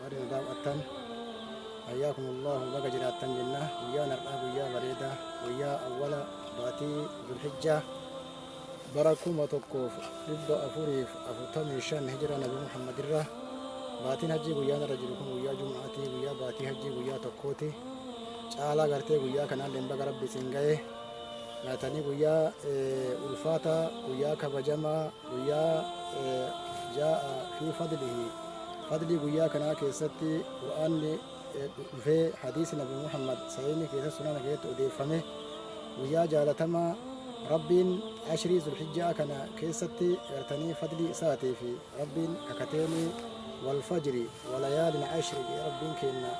warri nu daawwattan hayyakum allahu baga jiraattan jenna guyyaan har'aa guyyaa bareedaa guyyaa awwala baatii zulhijjaa bara kuma tokkoof dhibba afuriif afurtamii shan hijira nabi muhammad irra baatiin hajjii guyyaan irra jiru kun guyyaa jumaatii guyyaa baatii hajjii guyyaa tokkooti caalaa gartee guyyaa kanaan lemba garabbi isin ga'e nyaatanii guyyaa ulfaataa guyyaa kabajamaa Guyyaa jaa'a fi fadlihi fadlii guyyaa kanaa keessatti qur'aanni dhufee hadiisi nabi muhammad sahiihni keessa sunana keessatti odeeffame guyyaa jaalatamaa rabbiin ashrii zulhijjaa kana keessatti gartanii fadlii isaatii fi rabbiin kakateenii wal fajri walayaalin ashri jedhe rabbiin keenna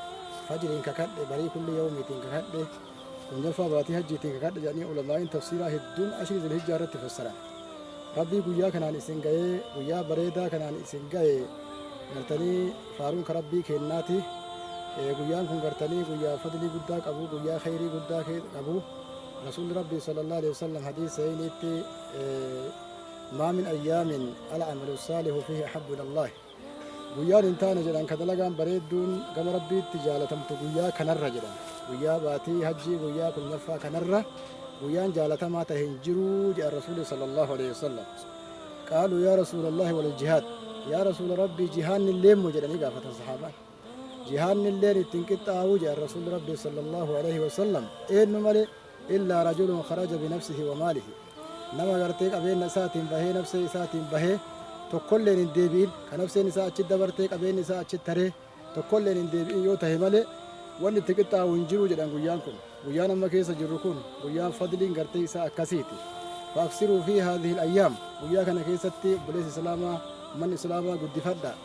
fajriin kakadhe barii kulli yawmiitiin kakadhe Kungalfaa baatii hajjiitiin kakadha jedhanii ulamaa'iin tafsiiraa hedduun ashrii zilhijjaa irratti fassaran. Rabbii guyyaa kanaan isin ga'ee guyyaa bareedaa kanaan isin ga'e gartanii faaruun ka rabbii keennaati. Eh, Guyyaan kun gartanii guyyaa fadlii guddaa qabu guyyaa kheyrii guddaa kee- qabu. Rasuulli rabbii sallallahu alaihi wasallam hadiis sahiiniitti eh, maa min ayyaamin al amalu saalihu fihi ahabbu ilallahi. Guyyaan hin taane jedhan ka dalagaan bareedduun gama Rabbiitti jaalatamtu guyyaa kanarra jedhan. Guyyaa baatii hajjii guyyaa kurnaffaa kanarra guyyaan jaalatamaa tahe hin jiruu jedhan Rasuulli sallallahu alaihi wasallam. Qaaluu yaa Rasuulallahi wal jihaad. Yaa Rasuula Rabbii jihaanni illee immoo jedhanii gaafatan sahaabaan. jihaannilleen itti hin qixxaa'uu jedhan rasuulli rabbii sallallahu alaihi wasallam eenyu malee illaa rajulun kharaja binafsihi wa maalihi nama gartee qabeenna isaatiin bahee nafsee isaatiin bahee tokkolleen hin deebi'in ka nafseen isaa achi dabartee qabeenni isaa achi taree tokkolleen hin deebi'in yoo tahe malee wanni itti qixxaa'u hin jiru jedhan guyyaan kun guyyaan amma keessa jirru kun guyyaan fadliin gartee isaa akkasiiti faaksiruu fi haadhihi ayyaam guyyaa kana keessatti buleessa islaamaa manni islaamaa guddifadha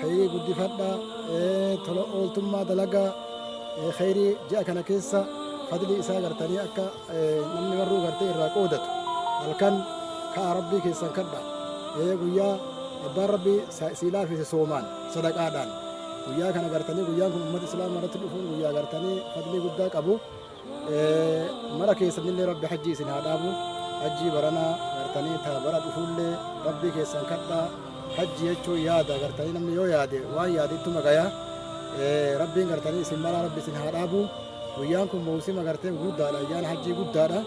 Khayrii guddifadhaa, tola ooltummaa dalagaa, khayrii ji'a kana keessa fadlii isaa gartanii akka namni marruu gartee irraa qoodatu. Halkan ka'a Rabbii keessan kadha. Guyyaa abbaan Rabbii sii laafise soomaan, sadaqaadhaan. Guyyaa kana gartanii guyyaan kun ummata Islaamaa irratti dhufuun guyyaa gartanii fadlii guddaa qabu. mara keessanillee rabbi hajjii isin haa dhaabu hajjii baranaa gartanii taa bara dhufuullee rabbii keessan kadhaa hajji jechuun yaada gartanii namni yoo yaade waan yaade ittuma gaya rabbiin gartanii isin mara rabbi isin haa dhaabu guyyaan kun mawsima gartee guddaadha ayyaana hajjii guddaadha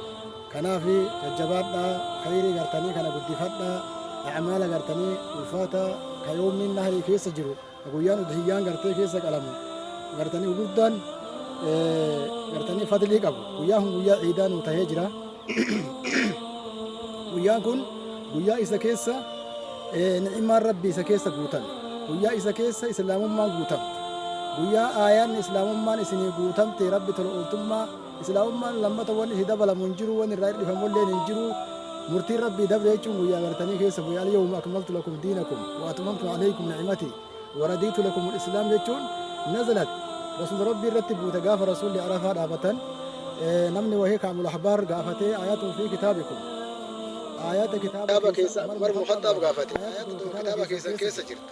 kanaaf jajjabaadhaa khayrii gartanii kana guddifadhaa amaala gartanii ulfaata ka yoomni nahrii keessa jiru Ka guyyaan udhiyyaan gartee keessa qalamu gartanii gurguddaan gartanii fadlii qabu. Guyyaan kun guyyaa ciidaa nuu tahee jira. Guyyaan kun guyyaa isa keessa ni'imaan rabbi isa keessa guutan. Guyyaa isa keessa islaamummaan guutamte. Guyyaa aayaan islaamummaan isinii guutamte rabbi tola ooltummaa Islaamummaan lammata wanni itti dabalamu hin jiru, wanni irraa hirdhifamulleen hin jiru. Murtiin Rabbii dabre jechuun guyyaa gartanii keessa bu'e al-yawma akmaltu lakum diinakum wa atmamtu alaykum ni'mati wa radiitu lakum al-islaam jechuun nazalat Rasuula Rabbii irratti buute gaafa Rasuulli Arafaa dhaabatan namni wahee Ka'bul Ahbaar gaafatee aayatun fi kitaabikum aayata kitaaba keessa Umar bin Khaxxaab gaafate aayatni tun kitaaba keessan keessa jirti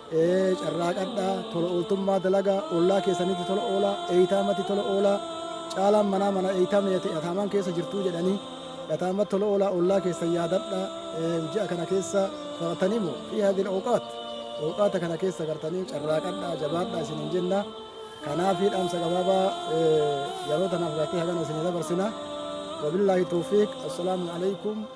Carraaqadhaa, tola ooltummaa dalagaa, ollaa keessanitti tola oolaa, eeytaamatti tola oolaa, caalaan manaa mana eeytaam ni yate yataamaan keessa jirtuu jedhanii yataamatti tola oolaa, ollaa keessan yaadadhaa, ji'a kana keessa baratanii moo fi hadil awqaat awqaata kana keessa gartanii carraaqadhaa, jabaadhaa isin hin jenna. Kanaafi dhaamsa gabaabaa yeroo tanaaf gartee hagana isin dabarsina. Wabillaahi tawfiiq. Assalaamu alaikum.